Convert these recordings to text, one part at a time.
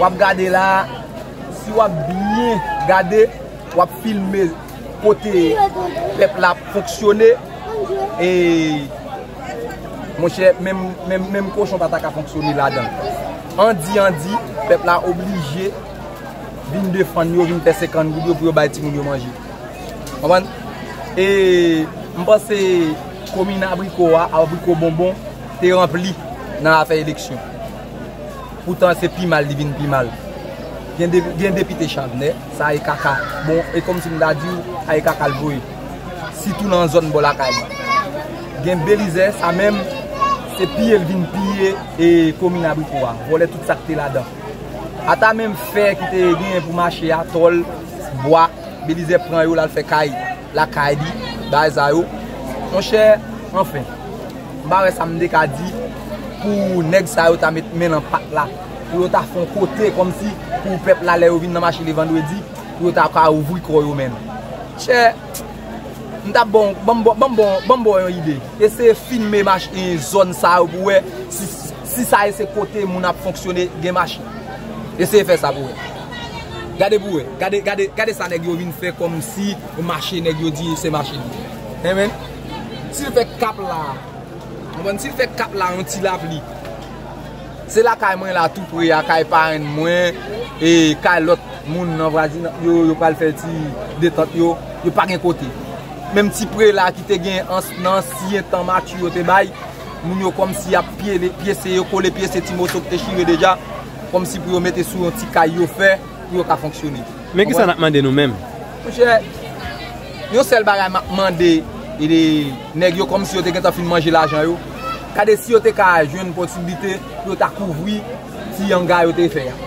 wap gade la si wap byen gade wap filme kote pèp la ap fonksyone e monchè menm kochon pa ta ka fonksyone la dan an di an di pèp la oblije vin defan yo vin pèse kan goud yo pou yo bay ti moun yo manje konprann e mpanse komine abriko a abriko bonbon te ranpli nan afè eleksyon poutan se pi mal li vin pi mal gen depite chavnè sa e kaka bon e kòm si m ta di w sa e kaka l voye sitou nan zòn bò lakay mwen gen belizè sa menm se piye l vin piye e komin abriko a vòlè tout sa k te ladan ata menm fè ki te genyen pou mache a tòl bwa belizè pran yo l al fè kay Lakay li, bagay sa yo. Monchè, anfen. M pa wè sa m te ka di pou nèg sa yo ta met men nan pat la. Pou yo ta fon kote kòmsi pou pèp la lè yo vin nan mache le vandredi, pou yo ta ka ouvri kò yo menm. Chè, m ta ba w, ban m ba w, ban m ba w yon ide. Eseye filme mache zòn sa yo pou wè si sa yo se kote moun ap fonksyone gen mache. Eseye fè sa pou wè. Gade pou wè, gade, gade, gade sa nèg yo vin fè kòm si mache nèg yo di se mache li ye. Enben, si l fè kap la, konprann, si l fè kap la yon ti lapli, se lakay mwen la tou pre a, kay parenn mwen, e kay lòt moun nan vwazinanp yo, yo pral fè ti detant yo, yo pa gen kote. Menm ti pre la ki te gen ans, nan ansyen tan matchou yo te bay, moun yo kòm si y ap pyele, pyese yo, kole pyese ti moso ki te chire deja. Kòmsi pou yo mete sou yon ti kay yo fè pou yo ka fonksyone. Men kisa nap mande nou menm? Monchè, yon sèl bagay map mande nèg yo kòmsi yo te gentan fin manje lajan yo, gade si yo te ka jwenn posiblite pou yo ta kouvri ti yanga yo te fè a.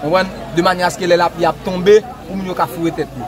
Konprann? De manyè aske lè lapli ap tonbe, pou moun yo ka foure tèt yo.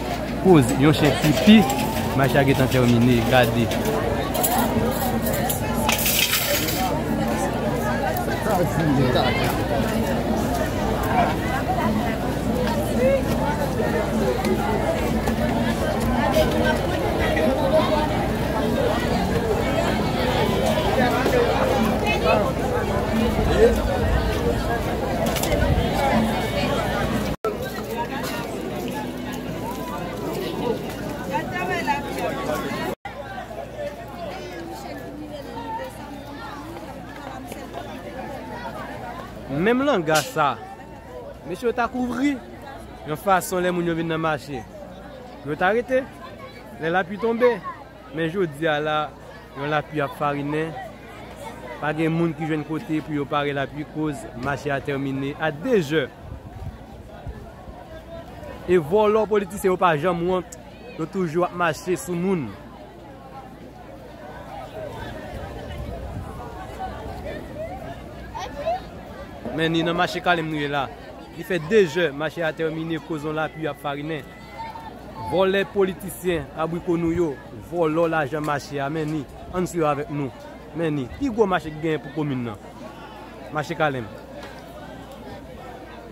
Koz yon chen pipi, match la gentan termine, gade. Menm langa sa. Mesye yo ta kouvri. Yon fason lè moun yo vin nan mache. Yo ta rete. Lè la pli tonbe. Men jodi a la. Yon la pli ap farinen. Pa gen moun ki jwenn kote pou yo pare la pli. Koz mache a termine a 2 je. E vòlò politisyen yo pa janm wont yo toujou ap mache sou moun. Men ni nan mache kalem nou ye la. Li fè 2 jè mache a tèmine koz yon lapli ap farinen. Vòlè politisyen abriko nou yo vòlò lajan mache a men ni ann swiv avèk nou. Men ni pi gwo mache ki genyen pou komin nan. Mache kalem.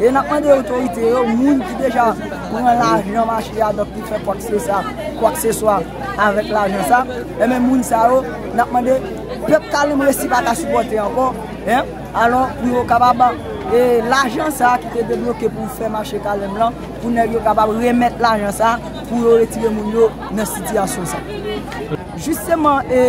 E nap mande otorite yo, moun ki deja pran lajan mache a donk ki fè kwaksesa, kwakseswa avèk lajan sa, enben moun sa yo nap mande pèp kalemb resi pa ka sipòte ankò, alò pou yo kapab e lajan sa ki te debloke pou fè mache kalemb lan, pou nèg yo kapab remèt lajan sa pou yo retire moun yo nan sitiyasyon sa. Jisteman e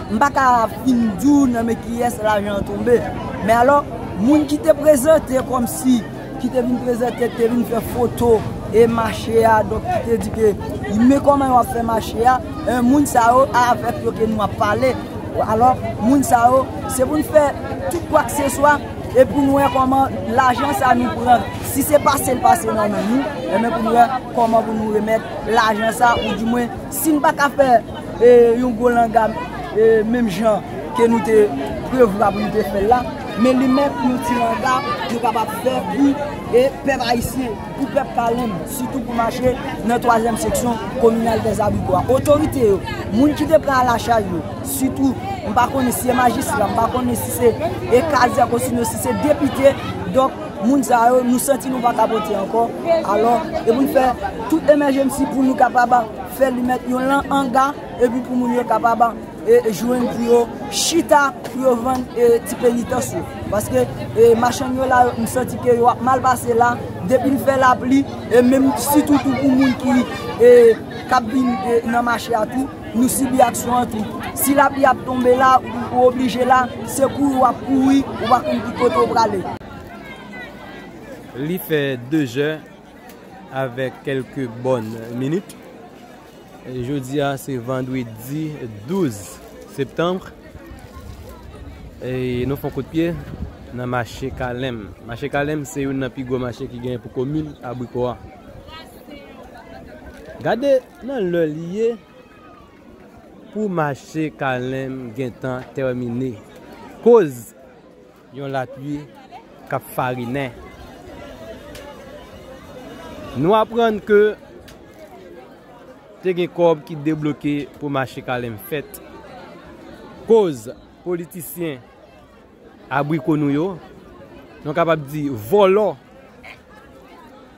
m pa ka. Vin di w nan men kiyès lajan an tonbe. Men alò, moun ki te prezante kòm si, ki te vin prezante, ki te vin fè foto e mache a, donk ki te di ke, men kòman yo ap fè mache a, moun sa yo, avèk yo ke nou ap pale. Alò, moun sa yo, se pou n fè tout kwakseswa e pou n wè kòman lajan sa nou pran, si se pase l pase nan men nou, e men pou n wè kòman pou nou remèt lajan sa, ou di mwen. Si n pa ka fè yon gwo langa menm jan ke nou te prevwa pou nou te fè l la, men li menm yon ti langa nou kapab fè pou pèp ayisyen, pou pèp Kalen, sitou pou mache nan twazyèm seksyon kominal Dèzabigo a. Otorite yo, moun ki te pran alachay yo, sitou, m pa konnen si se majistra, m pa konnen si se kazèk osino si se depite, donk. moun sa yo nou santi nou pa kapote ankò alò e pou n fè tout emèjemsi pou nou kapab fè li mèt yon lan anga epi pou moun yo kapab e jwenn pou yo chita pou yo vann e ti penitans yo paske e machann yo la m santi ke yo ap mal pase la depi l fè lapli e menm sitou tou pou moun ki e kap vin nan mache a tou. Nou sibi aksyon an tou. Si lapli ap tonbe la, ou oblije la, se kouri w ap kouri, ou pa konn ki kote w prale. Li fè dezè avèk kèlke bòn minit. Jodi a se vandredi 12 septanbre. E nou fon kout pye nan mache Kalèm. Mache Kalèm se youn nan pi gwo mache ki gen pou komin Abriko a. Gade! Nan lè li ye pou mache kalen m gentan tèmine koz yon lapui k ap farinen nou aprann ke te gen kòb ki debloke pou mache kalen m fèt koz politisyen abriko nou yo nou kapab di vòlò.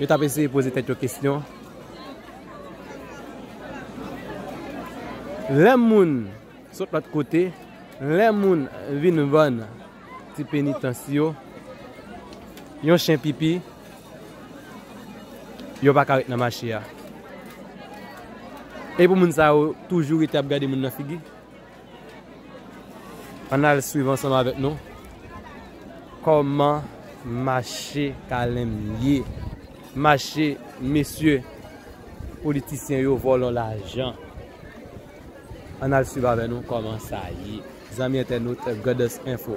Yo t ap eseye poze tèt yo kesyon. Lè moun sot lòt kote, lè moun vin vann ti penitans yo, yon chen pipi, yo pa ka ret nan mache a. E pou moun sa yo toujou rete ap gade moun nan figi? Ann al swiv ansanm avèk nou kòman mache kalenm ye mache mesye politisyen yo vòlò lajan ann al swiv avèk nou kòman sa ye zanmi entènot Goddess Info.